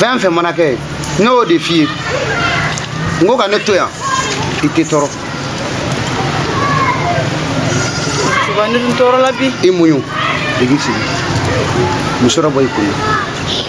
fɛn fɛn mana kɛ ne y'o de f'i ye n ko ka ne to yan i tɛ tɔɔrɔ tɔɔrɔ la bi i muɲu jigisigi muso dɔ bɔ i kun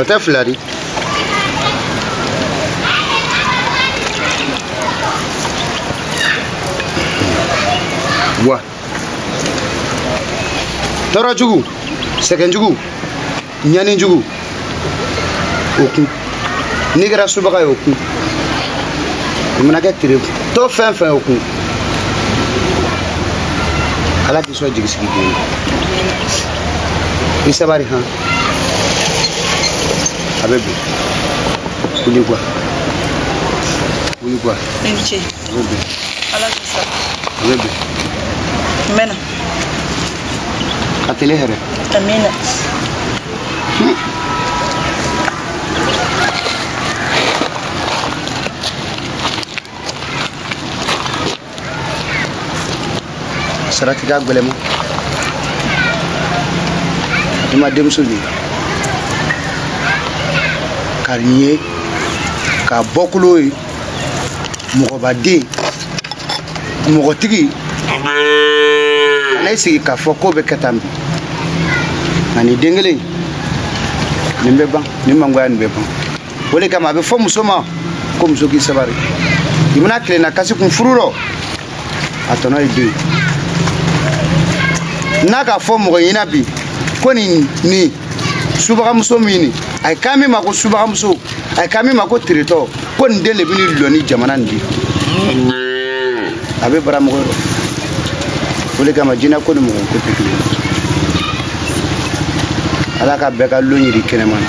o tɛ fila di wa tɔɔrɔ jugu sɛgɛn jugu ɲani jugu o kun n'i kɛra subaga ye o kun i mana kɛ teretɔ fɛn fɛn o kun ala k'i sɔn jigisigi den na i sabari han a bɛ bin wuli kuwa wuli kuwa a bɛ bin a bɛ bin n mɛna Ka tile hɛrɛ. Amina. Sarati ka gɛlɛn ma. I ma denmuso de ye. K'a ɲɛ ye, ka bɔkolo ye. mɔgɔbaden mɔgɔtigi kana i sigi k'a fɔ ko bɛ kɛ tan bi ani den kelen nin bɛ ban nin mangoya nin bɛ ban o le kama a bɛ fɔ muso ma ko muso k'i sabari i mana tilenna kasi kun furu rɔ a tɔnɔ ye den n'a ka fɔ mɔgɔ ɲɛna bi ko nin nin subagamuso min ni a ye kan min ma ko subagamuso a ye kan min ma ko teretɔ ko nin den le bɛ ni lɔ ni jamana nin di a bɛ bara mɔgɔ rɔ o le kama jinɛ ko ni mɔgɔ ko tɛ kelen ala ka bɛɛ ka lon yira kɛnɛma na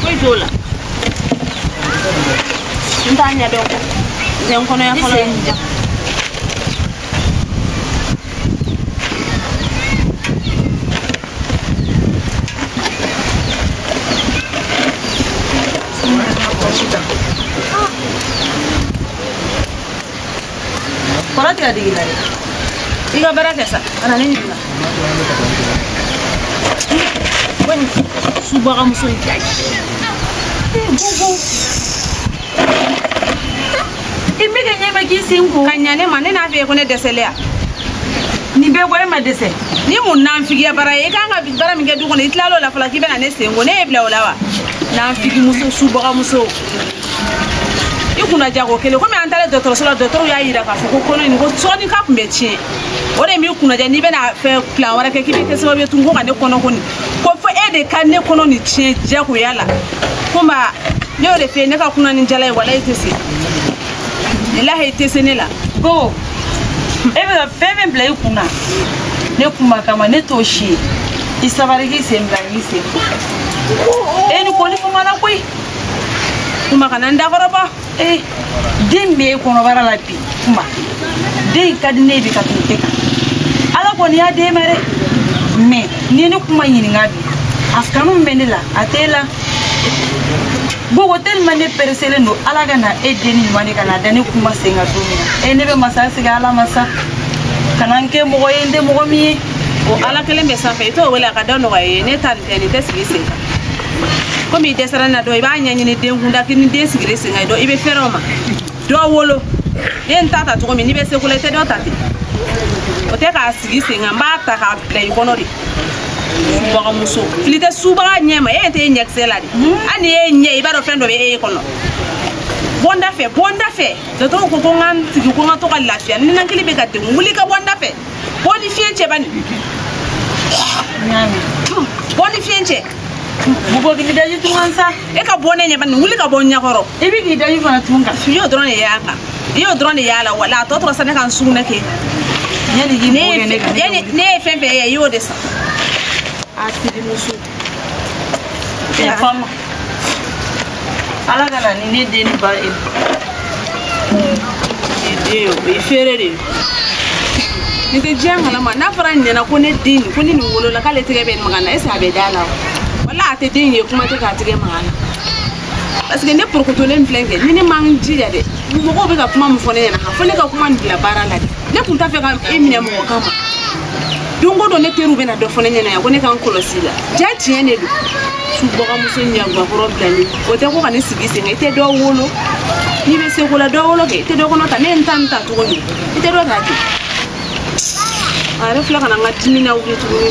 foyi t'o la n t'a ɲɛ dɔn zen kɔnɔya fɔlɔ ye ja kɔrɔ tigɛ digi la dɛ i ka baara kɛ sa ka na ne ɲininka ko nin subagamuso in ka i bɛ ka ɲɛmɛ k'i sen ko ka ɲa ne ma ne n'a fɛ ye ko ne dɛsɛlen ya nin bɛɛ ko e ma dɛsɛ ni mun nanfigiya baara ye i kan ka baara min kɛ du kɔnɔ i tilal'o la fɔlɔ k'i bɛna ne sen ko ne y'i bila o la wa nanfigimuso subagamuso i kunna ja ko kelen komi an taara dɔgɔtɔrɔso la dɔgɔtɔrɔw y'a yira k'a fɔ ko kɔnɔ in ko sɔɔni k'a tun bɛ tiɲɛ o de m'i kunna ja n'i bɛna fɛn plan wɛrɛ kɛ k'i bɛ kɛ sababu ye tun ko ka ne kɔnɔko nin ko fo e de ka ne kɔnɔ nin tiɲɛ jagoya la ko ma ne y'o de fɛ ne ka kunna ni jala ye wala i tɛ se lahi i tɛ se ne la ko e bɛ ka fɛn fɛn bila i kun na ne kuma kama ne t'o si ye i sabari k'i sen bila k'i sen e ni kɔni kuma na koyi kuma kana n dakɔrɔbɔ ee den bɛ e kɔnɔbara la bi kuma den ka di ne bi ka tɛmɛ e kan ala kɔni y'a d'e ma dɛ mɛ n'i ye ne kuma ɲininka bi a kanu min bɛ ne la a tɛ e la bogo tellement ne pereselen don ala ka na e den ɲuman de ka na da ne kuma sen kan don min na e ne bɛ masa sigi ala masa kana n kɛ mɔgɔ ye n tɛ mɔgɔ min ye o ala kelen bɛ sanfɛ i t'o wele a ka da nɔgɔya i ye ne ta nin tɛ nin tɛ sigi sen kan komi i dɛsɛra n na dɔ i b'a ɲɛɲini den kunda ni den sigilen sen kan ye dɔ i bɛ fɛrɛ o ma dɔ wolo n ye n ta ta cogo min n'i bɛ seko la i tɛ dɔ ta ten o tɛ k'a sigi sen kan n b'a ta k'a bila i kɔnɔ de subagamuso fili tɛ subaga ɲɛ ma e tɛ e ɲɛkisɛ lajɛ hali ni e ɲɛ i b'a dɔn fɛn dɔ bɛ e kɔnɔ bɔ n dafɛ bɔ n dafɛ dɔtɔrɔw ko ko n ka n sigi ko n ka to ka lafiya ninakili bɛ ka degun wuli ka bɔ n dafɛ bɔ n ye fiɲɛ cɛ bani bɔ n ye fiɲɛ cɛ mɔgɔ k'i daji tu n kan sa e ka bɔ ne ɲɛ bani wuli ka bɔ n ɲɛkɔrɔ i bɛ k'i daji fana tu n kan i y'o dɔrɔn de y'a kan i y'o dɔrɔn de y'a la wala a tɔ tora sa ne ka n sugunɛ kɛ yanni k'i mɔgɔ kɛ ne kan ne ye fɛn fɛn ye i y'o de sa hasidimuso fama ala ka na ni ne den ba ye den o ye fɛrɛ de ye nin tɛ diɲɛ kalama n'a fɔra n ɲɛna ko ne den ko ni nin wolola k'ale tɛgɛ bɛ maga a na ese a bɛ da a la o wala a tɛ den ye kuma tɛ k'a tɛgɛ maga a na parce que ne porokotolen filɛ kɛ ni ne ma n jija dɛ mɔgɔw bɛ ka kuma min fɔ ne ɲɛna fo ne ka kuma nin bila baara la de ne tun t'a fɛ ka e minɛ mɔgɔ kan ma don o don ne teriw bɛ na dɔ fɔ ne ɲɛna yan ko ne ka n kɔlɔsi i la ja tiɲɛ de don subagamuso ɲagankɔrɔba nin o tɛ ko ka ne sigi sen i tɛ dɔ wolo n'i bɛ seko la dɔ wolo kɛ i tɛ dɔ kɔnɔ ta ne ye n ta ta cogo min i tɛ dɔ ta ten a yɛrɛ filɛ ka na n ka dimi lawuli tuguni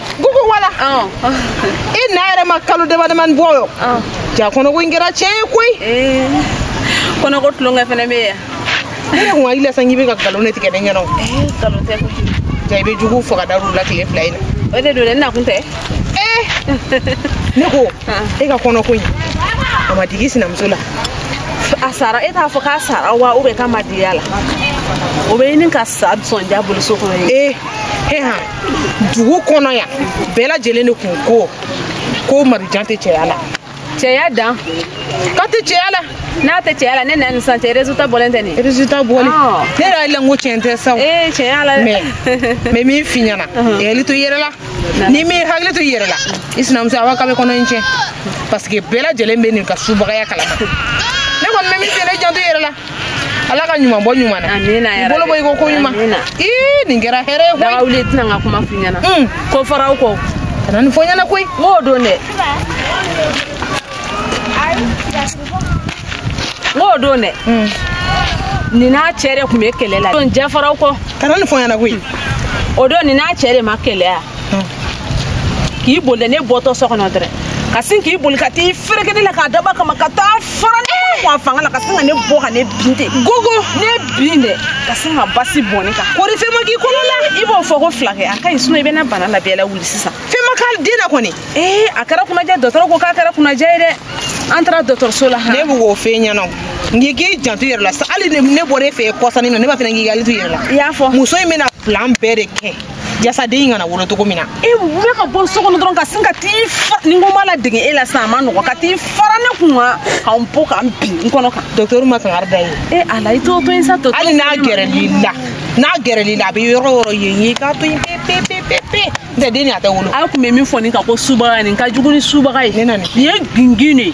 gugu wala i na yɛrɛ ma kalo damadamani bɔ yo ja kɔnɔko in kɛra tiɲɛ ye koyi kɔnɔko tulonkɛ fɛnɛ bɛ yan ne yɛrɛ kun hakili la sa k'i bɛ ka nkalon de tigɛ ne ɲɛna o nkalon tɛ koyi ja i bɛ jugu faga da la tile fila in na o de don dɛ n nakun tɛ ne ko e ka kɔnɔko in a ma digi i sinamuso la a sara e t'a fɔ k'a sara wa ubiyɛn k'a ma digi a la o bɛ ɲini ka sa sɔnja bolo so kɔnɔ ye ee he han dugu kɔnɔ yan bɛɛ lajɛlen de kun ko ko marijan tɛ cɛya la cɛya dan k'a tɛ cɛya la n'a tɛ cɛya la ne nana nin san cɛ résultat bɔlen tɛ nin résultat bɔlen ah. ne yɛrɛ hakili la n ko tiɲɛ tɛ sa ee tiɲɛ la mais n bɛ min f'i ɲɛna i hakili to i yɛrɛ la n'i m'i hakili to i yɛrɛ la i sinamuso awa k'a bɛ kɔnɔ in tiɲɛ parce que bɛɛ lajɛlen bɛ nin ka subagaya kalama ne kɔni bɛ min f'i ɲɛna i janto i yɛrɛ la ala ka ɲuman bɔ ɲuman na amina ya bolo bɔ i ko ko ɲuman ii nin kɛra hɛrɛ ye koyi daga wuli tɛ na n ka kuma f'i ɲɛna hmm. ko faraw kɔ ka na nin fɔ ɲɛna koyi n k'o don dɛ n k'o don dɛ hmm. nin n'a cɛ de tun bɛ kɛlɛ la don jɛfaraw kɔ ka na nin fɔ ɲɛna koyi o don nin n'a cɛ de ma kɛlɛ yan k'i boli dɛ ne bɔtɔ so kɔnɔ dɛrɛ ka sin k'i boli ka t'i fereke ne la k'a dabɔ a kama ka taa fara ne kun a fanga la ka sin ka ne bɔ ka ne bin ten gogo ne bin dɛ ka sin ka basi bɔn ne kan kɔri fɛn ma k'i kɔnɔ la i b'o fɔ ko fila kɛ a ka ɲi sinɔ i bɛ na bana labɛn la wuli sisan fɛn ma k'a den na kɔni ee a kɛra kunnadiya dɔgɔtɔrɔ ko k'a kɛra kunnadiya ye dɛ an taara dɔgɔtɔrɔso la ne bɛ k'o f'e ɲɛna n'i k'i janto i yɛrɛ la sa hali ne bɔra e fɛ yen kɔsa nin na ne b'a fɛ k'i hakili to i yɛrɛ la i y'a fɔ muso in bɛna plan bɛɛ de kɛ jasa den kana wolo cogo min na e wuli ka bɔ so kɔnɔ dɔrɔn ka sin ka t'i fa nin kuma ladege e la sisan a man nɔgɔ ka t'i fara ne kun kan ka n bɔ ka n bin n kɔnɔ kan docteur ma kangari da i ye e ala i t'o to yen sa docteur hali n'a gɛrɛl'i la n'a gɛrɛl'i la a bɛ yɔrɔ o yɔrɔ yen ye k'a to yen pepepepepe n'o tɛ den nin a tɛ wolo a tun bɛ min fɔ nin kan ko subaga nin ka jugu ni subaga ye ne na nin ye gingin de ye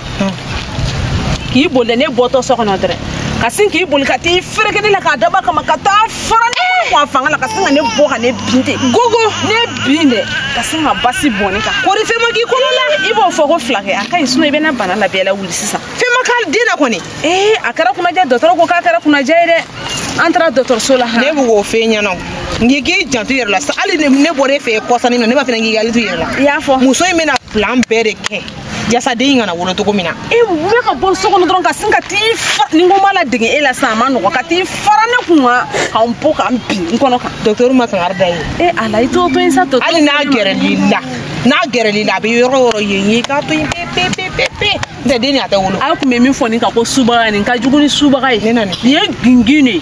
k'i boli dɛ ne bɔtɔ so kɔnɔ dɛrɛ ka sin k'i boli ka t'i fereke ne la k'a dabɔ a kama ka taa fara ne kun a fanga la ka sin ka ne bɔ ka ne bin ten gogo ne bin dɛ ka sin ka basi bɔn ne kan kɔri fɛn ma k'i kɔnɔ la i b'o fɔ ko fila kɛ a ka ɲi sinɔ i bɛ na bana labɛn la wuli sisan fɛn ma k'a den na kɔni ee a kɛra kunnadiya dɔgɔtɔrɔ ko k'a kɛra kunnadiya ye dɛ an taara dɔgɔtɔrɔso la ne bɛ k'o f'e ɲɛna n'i k'i janto i yɛrɛ la sa hali ne bɔra e fɛ kɔsa nin na ne b'a fɛ k'i hakili to i yɛrɛ la i y'a fɔ muso in bɛna plan bɛɛ de kɛ jasa den kana wolo cogo min na e wuli ka bɔ so kɔnɔ dɔrɔn ka sin ka t'i fa nin kuma ladege e la sisan a man nɔgɔ ka t'i fara ne kun kan ka n bɔ ka n bin n kɔnɔ kan docteur ma kangari da i ye e ala i t'o to yen sa docteur hali n'a gɛrɛl'i la n'a gɛrɛl'i la a bɛ yɔrɔ o yɔrɔ yen ye k'a to yen pepepepepe n'o tɛ den nin a tɛ wolo a tun bɛ min fɔ nin kan ko subaga nin ka jugu ni subaga ye ne na nin ye gingin de ye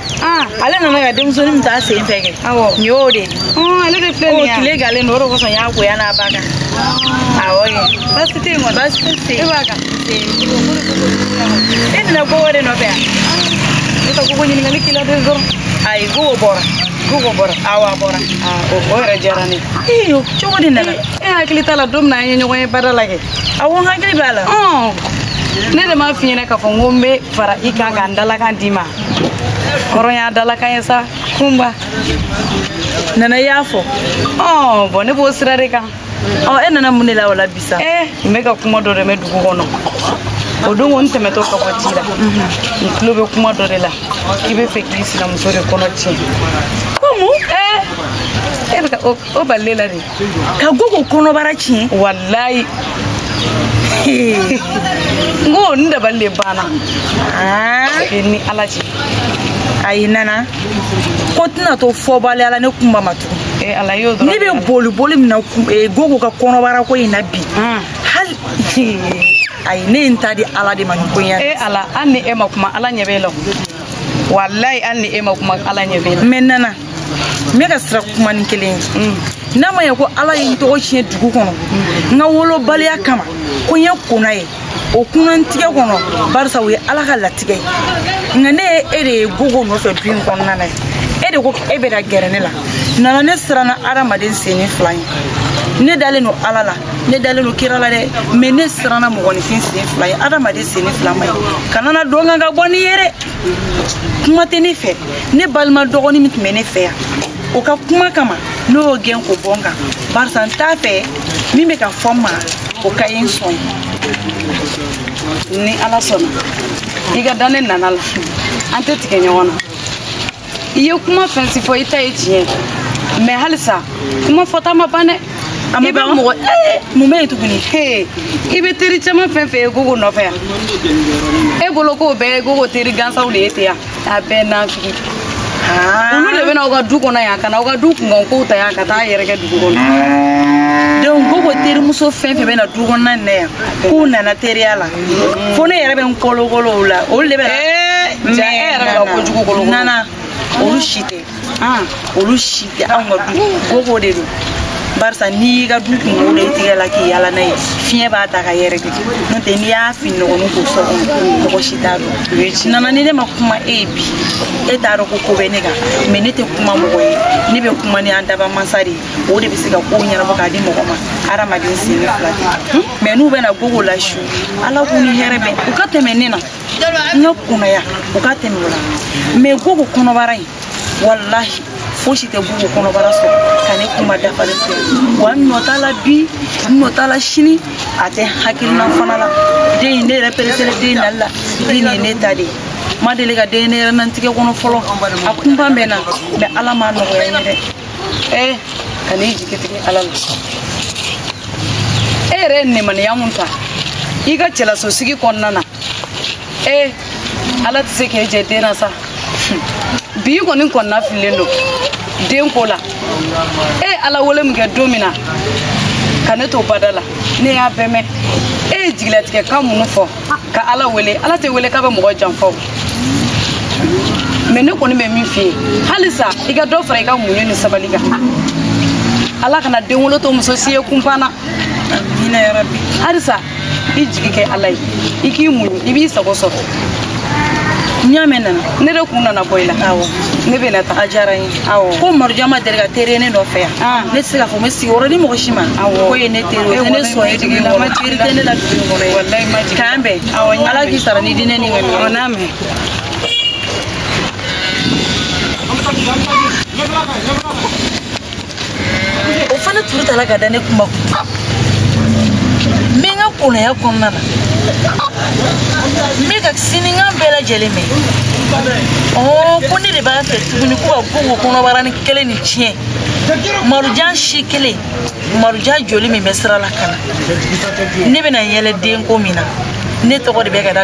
Ah. ale nana ka denmusonin min taa sen fɛ kɛ nin y'o de ye ah, ale de filɛ nin ye tile galen don o de kosɔn n y'a ko yan a b'a kan ah. awɔ kɛ baasi tɛ yen kɔni baasi si e b'a kan e nana ko wɛrɛ nɔfɛ yan ne ka gogo ɲininkali k'i la dɔrɔn ayi gogo bɔra gogo bɔra awɔ a bɔra o yɛrɛ diyara ne ye cogo di nana e hakili t'a la don min na an ye ɲɔgɔn ye bada la kɛ awɔ n hakili b'a la ne de m'a f'i ɲɛna k'a fɔ n ko n bɛ fara i kan ka n dalakan d'i ma hɔrɔn y'a dalakan ye sa kunba nana y'a fɔ ɔ bɔn ne b'o sira de kan ɔ e nana mun de la o la bi sa eh, n bɛ ka kuma dɔ de mɛ dugu kɔnɔ o don ko n tɛmɛtɔ ka bɔ ci la n tulo bɛ kuma dɔ de la k'i bɛ fɛ k'i sinamuso de kɔnɔ tiɲɛ ko mun eh, e bɛ ka o balile la de ka gogo kɔnɔbara tiɲɛ walayi n ko n dabali de banna ni ala cɛ ayi nana ko tɛna to fɔbaliya la ne kunba ma tugun ne bɛ boli boli min na eh, gogo ka kɔnɔbara ko in na bi hmm. hali ayi ne ye n ta di ala de ma nin ko in ya e eh, ala hali ni e ma kuma ala ɲɛ b'e la walayi hali ni e ma kuma ala ɲɛ b'e la mɛ nana n bɛ ka siran kuma ni kelen ye n'a ma ɲɛ ko ala ye n tɔgɔ tiɲɛ dugu kɔnɔ n ka wolobaliya kama ko n ye kona ye o kunantigɛ kɔnɔ barisa o ye ala ka latigɛ ye nka ne ye e de ye gogo nɔfɛ du in kɔnɔna na ye e de ko e bɛ ka gɛrɛ ne la nana ne siranna adamaden senni fila ye ne dalen don ala la ne dalen don kira la dɛ mɛ ne siranna mɔgɔninfin sen fila ye adamaden senni fila ma ye kana na dɔn kan ka bɔ n'i ye dɛ kuma tɛ ne fɛ ne balima dɔgɔni min tun bɛ ne fɛ yan o ka kuma kama ne y'o gɛn k'o bɔ n kan barisa n t'a fɛ min bɛ ka fɔ n ma o ka ye n sɔn ni ala sɔnna i ka da ne nana la an tɛ tigɛ ɲɔgɔn na i ye kuma fɛn si fɔ i ta ye tiɲɛ mɛ halisa kuma fɔta ma ban dɛ a ma ban mɔgɔ ee mun bɛ yen tuguni ee i bɛ teri caman fɛn fɛn ye gogo nɔfɛ yan e bolo k'o bɛɛ ye gogo teri gansanw de ye ten yan a bɛɛ n'an fili olu de bɛ na aw ka du kɔnɔ yan ka na aw ka du kunkan kow ta yan ka taa yɛrɛkɛ dugu kɔnɔ donc gogo terimuso fɛn fɛn bɛ na du kɔnɔna nin na yan k'u nana teriya la fo ne yɛrɛ bɛ n kolokolo o la olu de bɛ na eh, nana olu si tɛ ah, olu si tɛ anw ka du gogo de don barisa n'i y'i ka du kunko da i tigɛ la k'i yaala n'a ye fiɲɛ b'a ta k'a yɛrɛkɛ n'o tɛ n'i y'a fini nɔgɔni ko so kɔnɔ mɔgɔ si t'a dɔn nana ni ne ma kuma e ye bi e t'a dɔn ko ko bɛ ne kan mɛ ne tɛ kuma mɔgɔ ye ne bɛ kuma ni an dabaa mansa de ye o de bɛ se ka kow ɲɛnabɔ k'a di mɔgɔ ma hadamaden sen fila tɛ mɛ n'u bɛ na gogo la su ala k'u ni hɛrɛ bɛn u ka tɛmɛ ne na n ka konaya u ka tɛmɛ o la mɛ gogo kɔnɔbara in walahi fosi tɛ gogo kɔnɔbara sɔrɔ ka ne kuma dafalen tɛ wa n nɔ t'a la bi n nɔ t'a la sini a tɛ hakilina fana la den in ne yɛrɛ pɛrɛselen den nali la den nin ye ne ta de ye n ma deli ka den ne yɛrɛ nantigɛ kɔnɔ fɔlɔ a kunpa bɛ n na mɛ ala m'a nɔgɔya n ye dɛ ee kan'i jigi tigɛ ala la e yɛrɛ ye nemaniya mun ta i ka cɛlasosigi kɔnɔna na ee ala tɛ se k'e jɛ den na sa bi kɔni kɔnɔna fililen don den ko la e ye ala wele min kɛ don min na ka ne to bada la ne y'a bɛɛ mɛn e ye jigilatigɛ kan minnu fɔ ka ala wele ala tɛ wele k'a bɛ mɔgɔ janfa o mais ne kɔni bɛ min f'i ye halisa i ka dɔ fara i ka muɲu ni sabali kan ala kana den wolo to muso si ye kunpan na amiina yarabi halisa i jigi kɛ ala ye i k'i muɲu i b'i sago sɔrɔ n y'a mɛn nana ne de kun nana bɔ i la ne bɛ na taga a diyara n ye ko marujan ma deli ka teri ye ne nɔfɛ yan ah. ne tɛ se k'a fɔ n bɛ sigi yɔrɔ ni mɔgɔ si ma k'o ye ne teri ye o tɛ ne son ye dugu in kɔnɔ teri tɛ ne la dugu in kɔnɔ ye k'an bɛn ala k'i sara ni diinɛ ni ka ɲɔgɔn n'a mɛn o fana turu tala ka da ne kuma kun n bɛ n ka kɔnɔya kɔnɔna na n bɛ ka sininkan bɛɛ lajɛlen mɛn ɔɔ ko ne de b'a fɛ tuguni ko ka gogo kɔnɔbaranin kelen nin tiɲɛ marujan si kelen marujan joli min bɛ sira la ka na ne bɛna yɛlɛ denko min na ne tɔgɔ de bɛ ka da